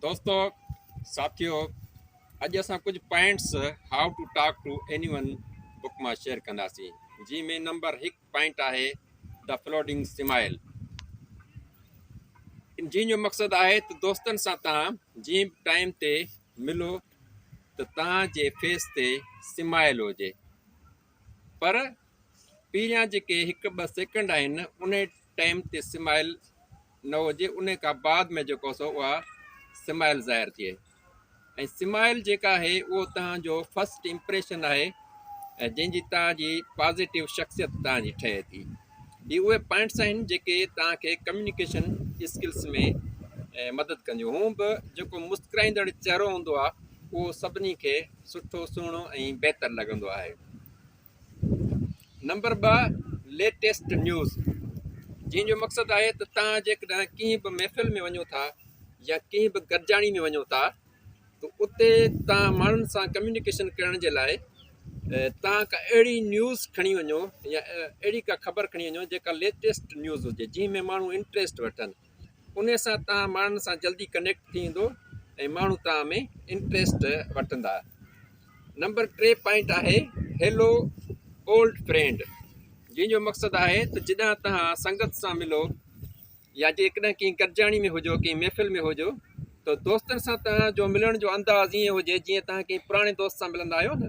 دوستو ساٿيو اڄ اسان ڪجهه points how to talk to anyone book مان شيئر ڪنداسين جنهن ۾ نمبر هڪ پوائنٽ آهي دا فلوڊنگ سمائل جنهن جو مقصد آهي ته دوستن سان تان جنهن به ٽائم تي ملو ته تان جي فيس تي سمائل هجي پر پهريان جيڪي هڪ ٻه سيڪنڊ آهن ان ٽائيم تي سمائيل نه هجي انهي کان بعد ۾ جيڪو سو اها سمائيل ظاهر ٿئي ۽ سمائيل جيڪا آهي اهو توهان جو فرسٽ امپريشن آهي جنهن جي توهان جي پازيٽو شخصيت توهان جي ٺهي ٿي هي اهي پوائنٽس آهن جيڪي توهان کي ڪميونيڪيشن اسڪلس ۾ مدد ڪنديون هون به جيڪو مسڪرائيندڙ چهرو هوندو آهي اهو سڀني کي سٺو سهڻو ۽ بهتر لڳندو آهي نمبر ٻه ليٽيسٽ نيوز جنهن جو مقصد آهي ته تان جيڪڏهن ڪنهن به محفل ۾ وڃو ٿا يا ڪنهن به گڏجاڻي ۾ وڃو ٿا ته اتي تان ماڻهن سان ڪميونيڪيشن ڪرڻ جي لاء تان ڪا اهڙي نيوز کڻي وڃو يا اهڙي ڪا خبر کڻي وڃو جيڪا ليٽيسٽ نيوز هجي جنهن ۾ ماڻهو انٽريسٽ وٺن انهي سان توهان ماڻهن سان جلدي ڪنيڪٽ ٿي ويندو ۽ ماڻهو توهان ۾ انٽريسٽ وٺندا. نمبر ٽي پوائنٽ آهي هيلو اولڊ فرينڊ جنهن جو مقصد آهي ته جڏهن توهان سنگت سان ملو يا جيڪڏهن ڪنهن گڏجاڻي ۾ هجو ڪنهن محفل ۾ هجو ته دوستن سان توهان جو ملڻ جو انداز ائين هجي جيئن توهان ڪنهن پراڻي دوست سان ملندا آهيو نه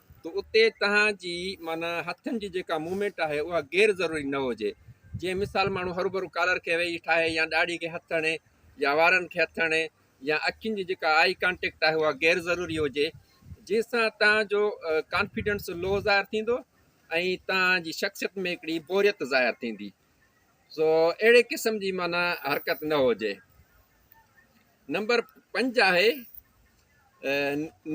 ته اتي توهان جي معنيٰ هٿن جي جيڪا موومينٽ آهي اها غير ضروري نه هجي جيئن مثال ماڻهو هروڀرو ڪالر کي ويهي ٺاهي يا ڏاڙهي کي هٿ هڻي يا وارن کي هٿ هڻي يا اکين جي جيڪا آئي ڪانٽيڪٽ آهي اها غير ضروري هجي جنهن سان توهان جو ڪانفيڊنس لو ظاهر ٿيندو ۽ توهان جي شخصيت ۾ هڪڙي بوريت ظاهر ٿيندي سو اهڙي قسم جي معنيٰ حرڪت نه هجي. نمبر پنج آهي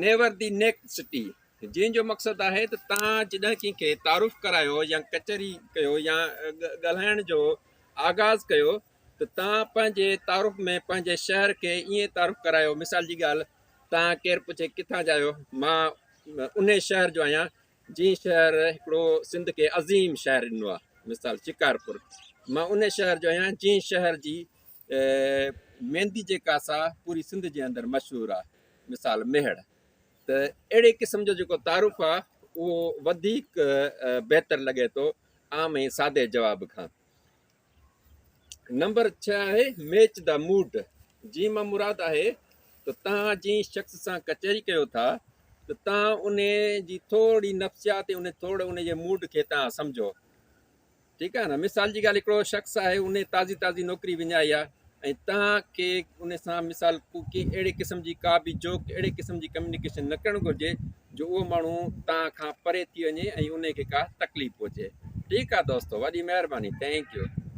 نيور دي نيڪ سٽي جنهن جو مقصد آهي ته تان جڏهن ڪنهن کي تعارف ڪرايو يا ڪچهري ڪيو يا ڳالهائڻ جو آغاز ڪيو ته تان پنهنجي تعارف ۾ پنهنجي شهر کي ائين تعارف ڪرايو مثال جي ڳالهه تان ڪير پڇي ڪٿان جا آهيو مان ان شهر جو آهيان جنهن شهر هڪڙو سنڌ کي عظيم شهر ڏنو آهي مثال شڪارپور مان ان شهر جو آهيان جنهن شهر جي ته ميندي جيڪا سا پوري سنڌ جي اندر مشهور آ مثال ميهڙ ته اهڙي قسم جو جيڪو تعارف آ اهو وڌيڪ بهتر لڳي ٿو عام ۽ سادي جواب کان نمبر ڇهه آهي ميچ دا موڊ جي مان مراد آهي ته تان جي شخص سان ڪچهري ڪيو ٿا ته تان ان جي ٿورڙي نفسيات ان ٿورڙي ان جي موڊ کي تان سمجهو ٺيڪ آهي نه مثال جي ڳالهه هڪڙو شخص آهي ان تازي تازي نوڪري وڃائي آهي ۽ توهان کي ان سان مثال ڪي اهڙي قسم جي ڪا به جوڪ اهڙي قسم جي ڪميونيڪيشن نه ڪرڻ گهرجي جو اهو ماڻهو توهان کان پري ٿي وڃي ۽ ان کي ڪا تڪليف پهچي ٺيڪ آهي دوستو وڏي مهرباني ٿينڪ يو